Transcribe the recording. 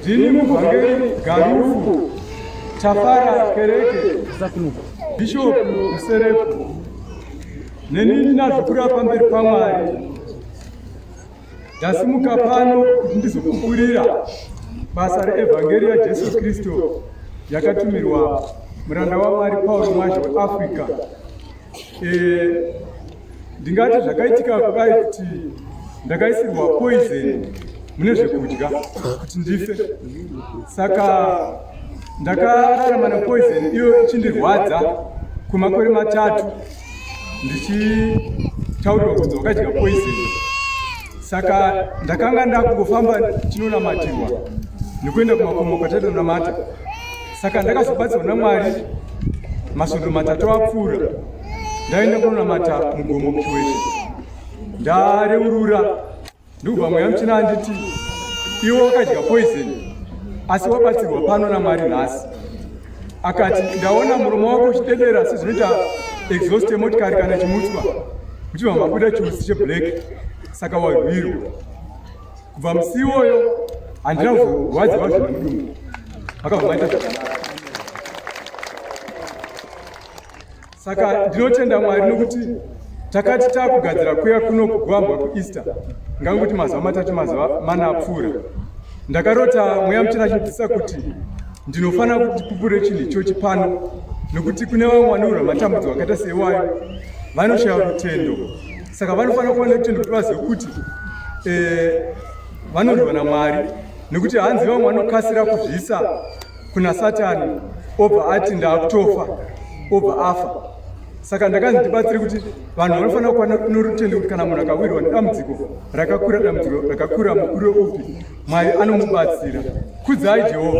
Ndini muvhangeri Garufu Tafara Kereke Bishop Muserepo neni ndinazvikura pamberi paMwari ndasimuka pano kuti ndizokupurira basa reevhangeri yaJesu Kristu yakatumirwa muranda waMwari Paul Mwazha weAfrica Eh, ndingati zvakaitika kudai kuti ndakaisirwa poison mune zvekudya kuti ndife saka ndakararama nepoison iyo ichindirwadza kwemakore matatu ndichitaurirwa kunzi wakadya poison saka ndakanga ndakungofamba chinonamatirwa nekuenda kumakomo kwatatonamata saka ndakazobatsirwa namwari masvondo matatu apfuura ndaenda kunonamata mugomo kuchiweshe ndareurura ndikubva mweya muchina anditi iwe wakadya poison asi wabatsirwa pano namwari nhasi akati ndaona muromo wako uchitendera sezvinoita exhaust yemotikari kana chimutswa uchibva mabuda chiusi cheblack saka warwirwa kubva musi iwoyo handina kurwadziwa zvinodii vakabvaita zvakanaka saka ndinotenda mwari nokuti takati takugadzira kuya kuno kugwambwa kueaster ngangokuti mazuva matatu mazuva mana apfuura ndakarota mweya muchena achindidzisa kuti ndinofanira kuti pupure chinhu ichochi pano nokuti kune vamwe vanorwa matambudzo akaita seiwayo vanoshaya rutendo saka vanofanira kuva nekuti nekuti vazive kuti eh, vanondwa namwari nekuti hanzi vamwe vanokasira kuzvisa kuna satani obva ati ndaakutofa obva afa saka ndakanzi ndibatsire kuti vanhu vanofanira kuva norutendo kuti kana munhu akawirwa nedambudziko rakakura dambudziko rakakura mukuru weupi mwari anomubatsira kudzai jehovha